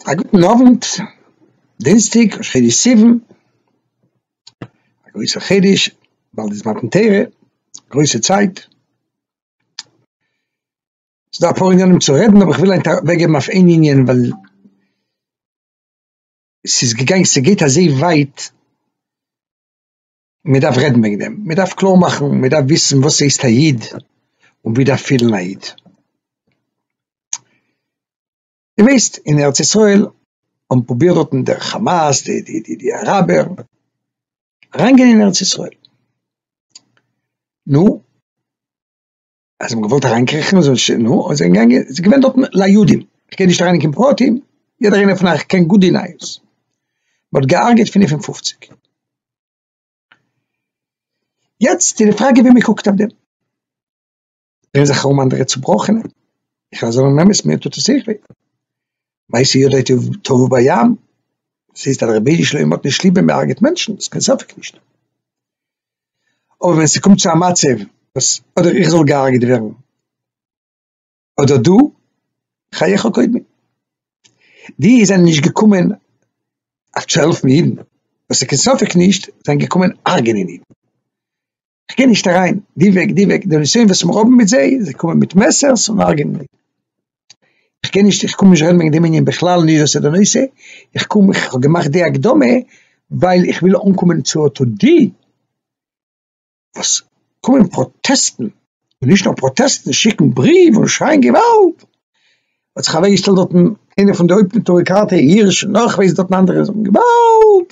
א גוטן אוונט, דינסטאג ראש חודש סיוון, א גרויסע חידוש, באלד איז מתן תורה, גרויסע צייט, ס'איז דא אפאר ענינים צו רעדן אבער כ'וויל היינט אוועקגעבן אויף איין ענין ווייל ס'איז געגאנגען, ס'גייט אזוי ווייט. מען דארף רעדן וועגן דעם, מען דארף קלאר מאכן, מען דארף וויסן וואס ס'הייסט א איד, און ווי דארף פילן א איד. איר ווייסט אין ארץ ישראל האבן פרובירט דארטן דער כאמאס, די די די די אראבער, אריינגיין אין ארץ ישראל, נו, אז זיי האבן געוואלט אריינקריכן זאל ש נ און זענען געגאנגען ס'איז געווען דארטן ליהודים, איך גיי נישט אריין אין קיין פרטים, יעדער איינער פון אייך קען גוט די נייעס, מען האט געהארגעט פֿינף און פֿופֿציק. יעצט איז די פראגע ווי מען קוקט אויף דעם, זענען זיך ארום אנדערע צובראכענע, איך וועל זאגן אמת מיר טוט עס אויך וויי, מעשי ידי תבוא בים, ס'הייסט אז רבי'ן שלמה האט נישט ליב ווען מען הרג'עט מענטשן, ס'איז קיין ספק נישט. אבער ווען ס'קומט צו א מצב וואס אדער איך זאל געהארגעט ווערן אדער דו, חייך קודמי, די זענען נישט געקומען אויף צו העלפן אידן, וואס ס'איז קיין ספק נישט, זיי זענען געקומען הרג'נען אידן, כ'גיי נישט אריין די וועג די וועג, די נסיון וואס מיר האבן מיט זיי, זיי קומען מיט מעסערס און הרג'נען אידן. איך קען נישט איך קום נישט אריין וועגן דעם ענין בכלל נישט וואס איז די נושא, איך קום איך האב געמאכט די הקדמה ווייל איך וויל אנקומען צו אטא די וואס קומען פראטעסטן און נישט נאר פראטעסטן שיקן בריוו און שרייען געוואלד, האט זיך אוועק געשטעלט דארטן איינער פון די הויפט אויטאריקאטע הירש און נאך ווער ס'דארטן אנדערע זאגן געוואלד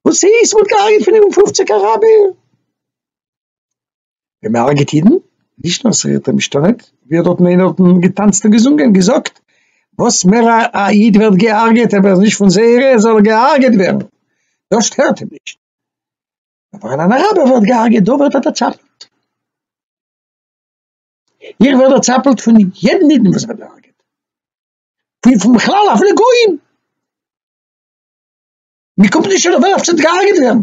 וואס איז ס'וואלט געהארגעט פינף און פופציג אראבער. ווען מען הרגעט אידן, נישט נאר ס'ווערט אים משתלט, ווי האט דארטן איינער דארטן געטאנצט און געזונגען, געזאגט, וואס מער א א איד ווערט גע'הרג'עט אויב ער איז נישט פון זייערע זאל ער גע'הרג'עט ווערן, דאס שטערט אים נישט, אבער ווען אן אראבער ווערט גע'הרג'עט דא ווערט ער דערצאפלט, איך ווער דערצאפלט פון יעדן אידן וואס ווערט גע'הרג'עט, פון פון בכלל אפילו גויים, מ'קומט נישט אדער ווער עפעס וועט גע'הרג'עט ווערן.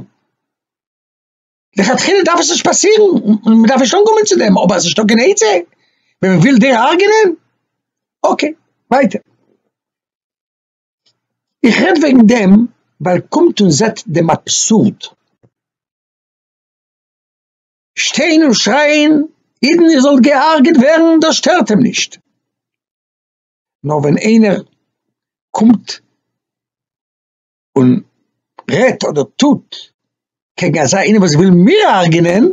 לכתחילה דארף עס נישט פאסירן, און מען דארף נישט אנקומען צו דעם, אבער עס איז שטארק אין עצה, ווען מען וויל דיר הרג'ענען, אקעי, ווייטער. איך רעד וועגן דעם, ווייל קומט און זעט דעם אבסורד. שטיין און שרייען, אידן איר זאלט גע'הרג'עט ווערן, דאס שטערט אים נישט. נאר ווען איינער קומט, און רעדט אדער טוט קעגן אזא איינעם וואס וויל מיר הרג'נען,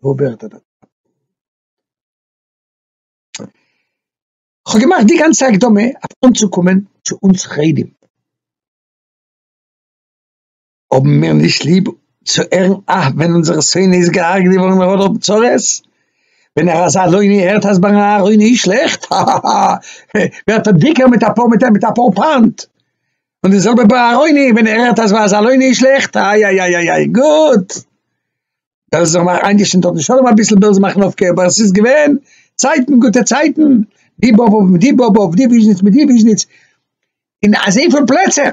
וואו ווערט ער דער טאטע? כ'האב געמאכט די גאנצע הקדמה אויף אנצוקומען צו אונז חרדים, האבן מיר נישט ליב צו הערן אה ווען אונזער שונא איז געהארגעט געווארן און ער האט האט צרות, ווען ער אז א לוני הערט אז ביי אהרוני איז שלעכט, האהאהא, ווערט ער דיקער מיט אפאר מיט אפאר פאנט, און די זעלבע ביי ארוני ווען ער הערט אז וואס ארוני איז שלעכט איי איי איי איי גוט דאס זאל מאך איינגעשן דארט די שלום אביסל בעלז מאכן אויף קעבער עס איז געווען צייטן גוטע צייטן די באב אויף די באב אויף די וויזניץ מיט די וויזניץ אין אזוי פון פלעצער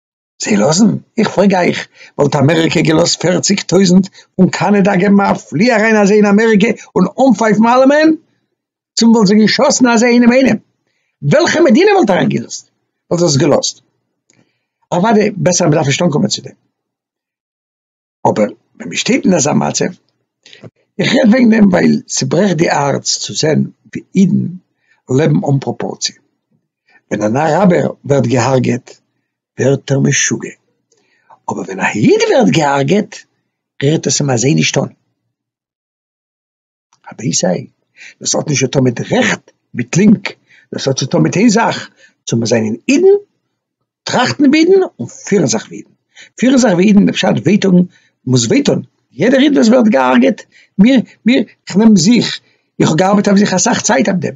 זיי לאזן? איך פרעג אייך, וואלט אמעריקע געלאזט פערציג טויזנט פון קאנאדא געבן א פלי אריין אזוי אין אמעריקע און אנפייפן אלעמען? צום וואלט זיי געשאסן אזוי אינעם אינעם? וועלכע מדינה וואלט אריין געלאזט? וואלט דאס געלאזט? אוואדי בעסער מען דארף נישט אנקומען צו דעם. אבער ווען מען שטייט אין אזא מצב, איך רעד וועגן דעם ווייל ס'ברעכט די הארץ צו זען ווי אידן לעבן אן פראפארציע, ווען אן אראבער ווערט געהארגעט ווערט ער משוגע, אבער ווען א איד ווערט געהארגעט רירט עס אים אזוי נישט אן. א בעיס עי, דאס האט נישט צו טון מיט רעכט מיט לינק, דאס האט צו טון מיט איין זאך, צו מיר זענען אידן, טראכטן ווי אידן, און פירן זיך ווי אידן, פירן זיך ווי אידן אין די פשט וויי טון מוז וויי טון, יעדער איד וואס ווערט געהארגעט, מיר מיר, איך נעם זיך, איך האב געארבעט אויף זיך אסאך צייט אויף דעם,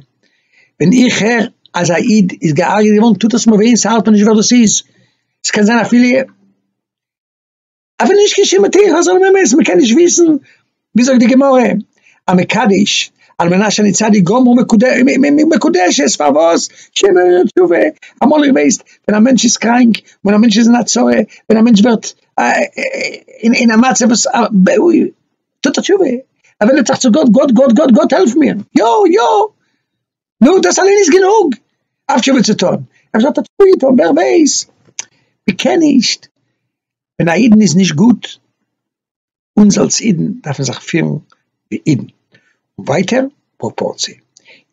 ווען איך הער אז א איד איז געהארגעט געווארן טוט עס מיר וויי, ס'האלט מיר נישט ווער דאס איז, ס'קען זיין אפילו. אבער נישט קיין שום מתיר חזון ומעש, מען קען נישט וויסן ווי זאגט די גמרא א מקדיש על מנת שאני צדיק גמור מקודשת פארוואס שימער תשובה אמאל איך ווייס ווען א מענטש איז קראנק ווען א מענטש איז אין א צרה ווען א מענטש ווערט אין א מצב וואס טוט ער תשובה ער ווענדט זיך צו גאט גאט גאט גאט גאט העלף מיר יא יא. נו, דאס אליין איז גענוג אויף תשובה צו טון. אפשר האט ער תשובה געטון, ווער ווייס? מ'קען נישט. ווען א אידן איז נישט גוט, אונז אלס אידן דארפן זיך פירן ווי אידן. ווייטער, פראפארציע.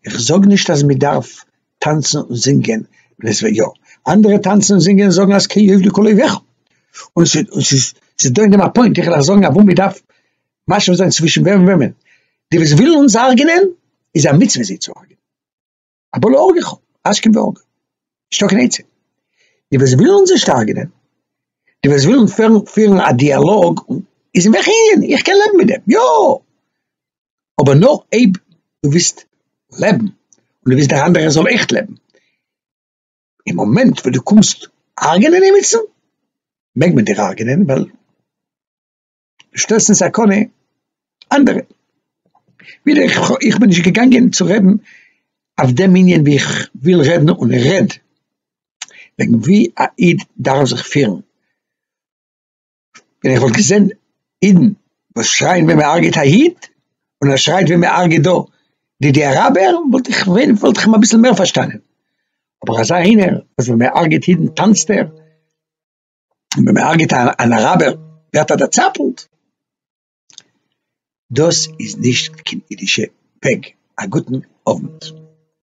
איך זאג נישט אז מ'דארף טאנצן און זינגען, ווען עס וועט יא. אנדערע טאנצן און זינגען און זאגן אז כיובדק אויביך. און ס'איז דא אין דעם א פוינט, איך וויל אייך זאגן אוואו מ'דארף משווה זיין צווישן ווען און וועמען, די וואס ווילן אונז הרג'נען איז א מצוה זיי צו הרג'נען, אבא להורגך השכם והורגו, נישטא קיין עצה, די וואס ווילן אונז נישט הרג'נען, די וואס ווילן פירן א דיאלאג איז אין וועלכע ענין, איך קען לעבן מיט דעם, יא, אבער נאר אויב דו ווילסט לעבן און דו ווילסט דער אנדערער זאל עכט לעבן, אין מאמענט וואס דו קומסט הרג'נען עמיצן מעג מען דיר הרג'נען ווייל. שטעלסט אין סכנה אנדערע. ווידער איך בין נישט געגאנגען צו רעדן אויף דעם ענין ווי איך וויל רעדן און איך רעד וועגן ווי א איד דארף זיך פירן, ווען איך וואלט געזען אידן וואס שרייען ווען מען הרג'עט א איד און ער שרייט ווען מען הרג'עט דא די די אראבער וואלט איך ווען וואלט איך אים אביסל מער פארשטאנען, אבער אזא איינער וואס ווען מען הרג'עט אידן טאנצט ער. און ווען מען הרגעט אן אראבער ווערט ער דערצאפלט, דאס איז נישט קיין אידישע וועג. א גוטן אוונט.